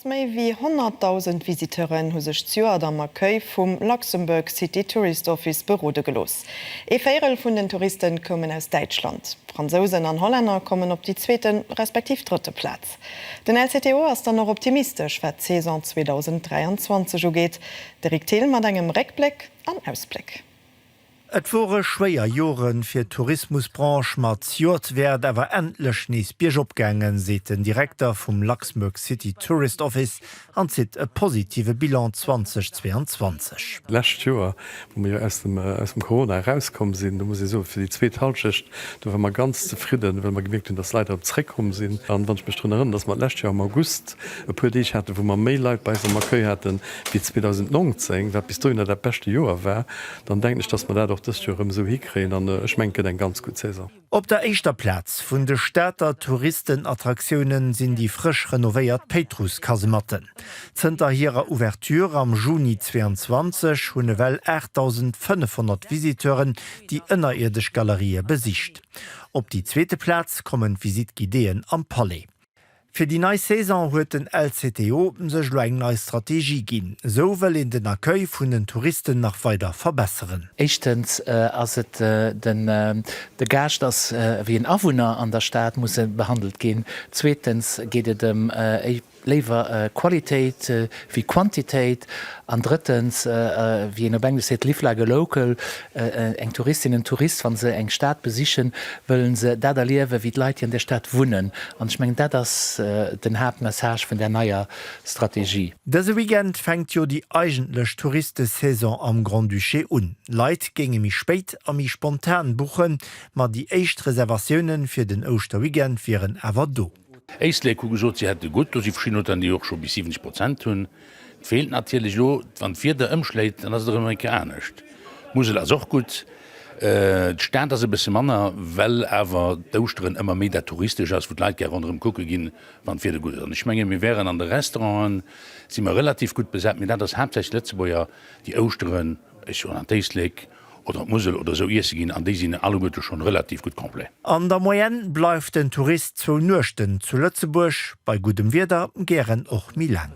Méi wéi 100.000 Visiteuren hu sech d'Joert am Accueil vum Luxembourg City Tourist Office berode gelooss. Ee Véirel vun den Touriste koumen aus Däitschland. Fransousen an Hollänner kommen op déi zweete respektiv drëtte Plaz. Den LCTO ass dann och optimistesch, wat d'Saison 2023 ugeet. De Rick Thill mat engem Réckbléck an Ausbléck. Et wore schwéier Jore fir d'Tourismusbranche, ma d'Jor wär et awer endlech nees biergop gaangen, seet den Direkter vum Luxembourg City Tourist Office an zitt e positive Bilan 2022. D'lescht Joer, wou mer jo aus dem aus dem Corona erauskomm sinn, do muss ee soen, fir déi zweet Hallschecht, do ware mer ganz zefridden, well mer gemierkt hunn, dass Leit erëm zréckkomm sinn. An wann ech mech drun erënnern, dass mer d'lescht Joer am August e puer Deeg haten, wou mer méi Leit bei eis am Accueil haten, fir 2019, wat bis dohinner dat beschte Joer war, dann denken ech, dass mer dat och dëst Joer erëm esou hikréien an ech mengen, et gëtt eng ganz gutt Saison. Op der éischter Plaz vun de Stater Touristenattraktiounen sinn déi frësch renovéiert Péitruss-Kasematten. Zënter hirer Ouverture am Juni 22 hunn ewell 8.500 Visiteuren déi ënnerierdesch Galerië besicht. Op déi zweete Plaz kommen d'Visitte-Guidéeën am Palais. Fir déi nei Saison huet den LCTO sech elo eng nei Strategie ginn. Esou wëll een den Accueil vun den Touristen nach weider verbesseren. Éischtens ass et den, de Gaascht ass ewéi en Awunner an der Stad, muss e behandelt ginn. Zweetens geet et ëm léiwer Qualitéit ewéi Quantitéit. An drëttens, wéi een op Englesch seet, Live like a local. Eng Touristin, en Tourist, wa se eng Stad besichen, wëlle se dat erliewen, wéi d'Leit, déi an där Stad wunnen. An ech mengen, dat ass den Haaptmessage vun där neier Strategie. Dëse Weekend fänkt jo déi eigentlech Touristesaison am Grand-Duché un. Leit géinge méi spéit a méi spontan buchen, ma déi éischt Reservatioune fir den Ouschterweekend wieren awer do. Éislek hu gesot, si hätte gutt, do si verschidden Auteuren, déi och scho bis 70 Prozent hunn. Et feelt natierlech elo, wann d'Wieder ëmschléit, dann ass et erëm eng Kéier anescht. D'Musel ass och gutt. D'Stad ass e bësse manner, well awer d'Ouschteren ëmmer méi dat Touristescht ass, wou d'Leit gär ronderëm kucke ginn, wann d'Wieder gutt ass. An ech menge mir wären an de Restauranten, si mer relativ gutt besat, mee dat ass haaptsächlech Lëtzebuerger, déi Ouschteren, ech soen an d'Éislek, oder d'Musel oder esou iesse ginn, an déi sinn alleguerte schonn relativ gutt complet. An der Moyenne bleift den Tourist zwou Nuechten zu Lëtzebuerg, bei guddem Wieder gären och méi laang.